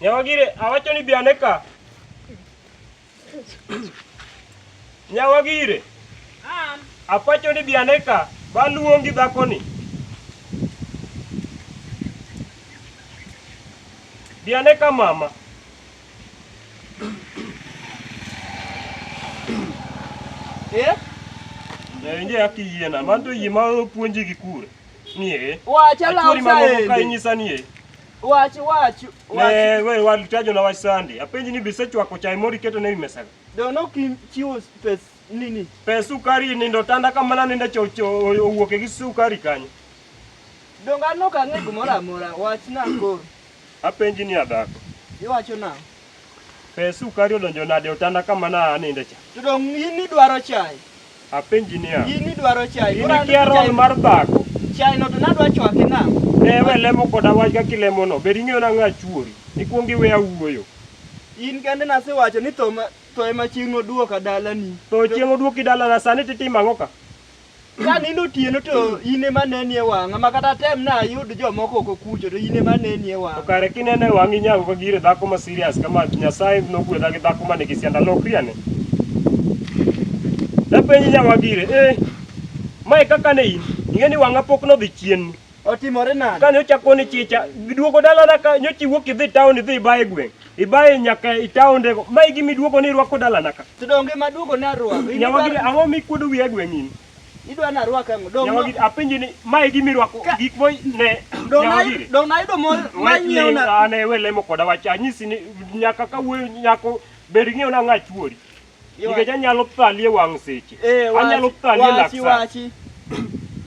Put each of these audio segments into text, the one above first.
Nyawagire awacho ni bi ane ka. Nyawagire apacho ni bi ane ka baluongi dhakoni. Bi ane ka mama. Eh? Ndio yake yena, mando yimaro puonji gi kure. nie wacha la usaendi mamoko ka inyisa nie wach wach ne we walitajo na wach sande apenji ni bise chwako chai mori keto ne mesa do no kim chiwo pes nini pes sukari ni ndo tanda kama na nenda cho cho owuoke gi sukari kanyo do ngano ka ne gumora mora wach na ko apenji ni adako iwacho na Pes sukari odonjo nade e otanda kama na aninde cha? To dong' in idwaro chai? Apenji niya. In idwaro chai? In ikia roll mar dhako? Chai no to nadwa chwake nang'o? Ne we lemo koda wach kaka ilemono. Bed ing'eyo nang'o achuori. Ikwong iwe awuoyo. In kende nasewacho ni tho ma tho ema chieng' oduoka dalani. Tho chieng' oduoki dalana sani titimo ang'o ka? Ka nindo otieno to in ema neni e wang'a ma kata tem na ayud jomoko oko kucho to in ema neni e To wang'a. kare kineno e wang'i nyago ka gire dhako ma serious kama Nyasaye nogwedha gi dhako ma nigi sianda lokri ane. Napenji nyawa gire, eh, mae kaka ne in, ing'e ni wang'a pok nodhi chien. Otimore nade? Kane ochako ni chicha, giduogo dalana ka nyocha iwuok idhi town idhi ibaye gweng'. Ibaye nyaka i taonde go. Mae gima iduogo ni irwako dalana ka. To donge maduogo ne arwako. In Nyawagi idwaro- ang'o mikuodo wiya gweng' in? Idwa ni arwak ang'o? Dong' Nyawagi apenji ni mae gima irwako Ka- gik mo ne dong' na- nyawagiri. dong' nayudo mo- manyieo na- Ane we lemo koda wach anyisi ni nyaka ka wuoyo nyako ber ng'eyo na ng'a chuori. nikech anyalo thali e wang' seche Eh, wachi- anyalo thali e lak wachi, sa wachi.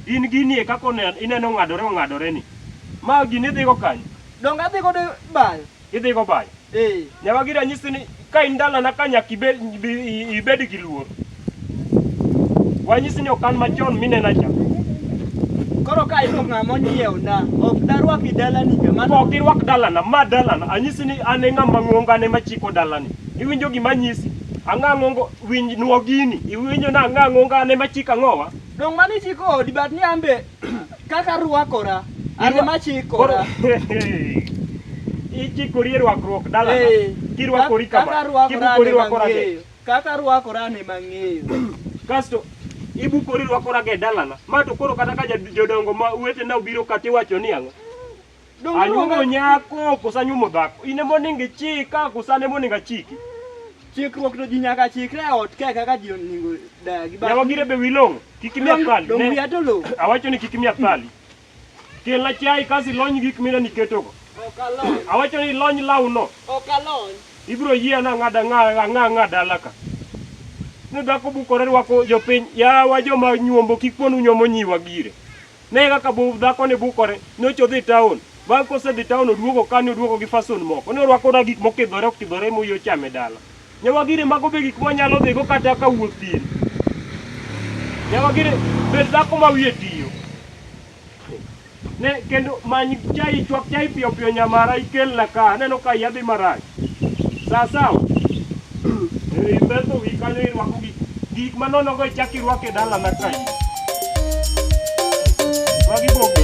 in gini e kaka one- ineno ng'adore ong'adore ni ma gini idhigo kanyo Donge adhi godo bayo? idhigo bayo Eh, nyaka gi ranyisi ni ka in dalana ka nyaka ibed, ibi- ibed gi luor wanyisi ni okan machon minena cha koro ka iyudo ng'ama onyiewo na, ok darwaki dalani ka mano. ok irwak dalana ma dalana anyisi ni an e ng'ama ng'ongo an ema chiko dalani Iwinjo gima nyisi? Ang'ang'o ngo winj nuo gini. Iwinjo na ang'ang'o ngane machika ng'owa. Dong' mano ichiko odi but ni an be kaka arwakora an Irwa- ema chikora. Ichikori e rwakruok dala. Eh, Kirwakori kaka kama. arwakora Kibukori an ema rwakora ge. ng'eyo. Kaka arwakora an ema ng'eyo. Kasto ibukori rwakora ge dalana. Ma to koro kata ka jad- jodongo ma wetena obiro kata iwacho ni ang'o. Anyuomo nyako koso anyuomo dhako? In ema onego ichika koso an ema onego achiki? Chikruok to ji nyaka chikre e ot kae kaka ji onego dagi. Yawa gire be wilong', kik imiya pali. Dong' wiya to lo. Awacho ni kik imiya pali. Kelna chai kaso ilony gik mina niketogo. Ok alony. Awacho ni ilony lawno. Ok alony. Ibiro yie ana ang'ada ang'a ang'a ang'a dala ka. Ni dhako bukore rwako jopiny. Yawa joma nyuombo kik ponu nyuomo nyiwa gire. Ne kaka bu dhakoni bukore, nyocha odhi taon. Bang' kosedhi taon oduogo ka ni oduogo gi fason moko. Ne orwako na gik mokidhore okidhore ma uyo chame dala. Nyawagire mago be gik mwanyalo dhigo kata ka wuoth thiri. Nyawagire bed dhako ma wiye tiyo. Ne kendo many chai chwak chai piyo piyo nyamara ikelna ka aneno ka iya dhi marach. Sawa sawa. Eh, Imeto wi kanyo irwako gik gik manono go ichak irwako e dala na kae. Magi bogi.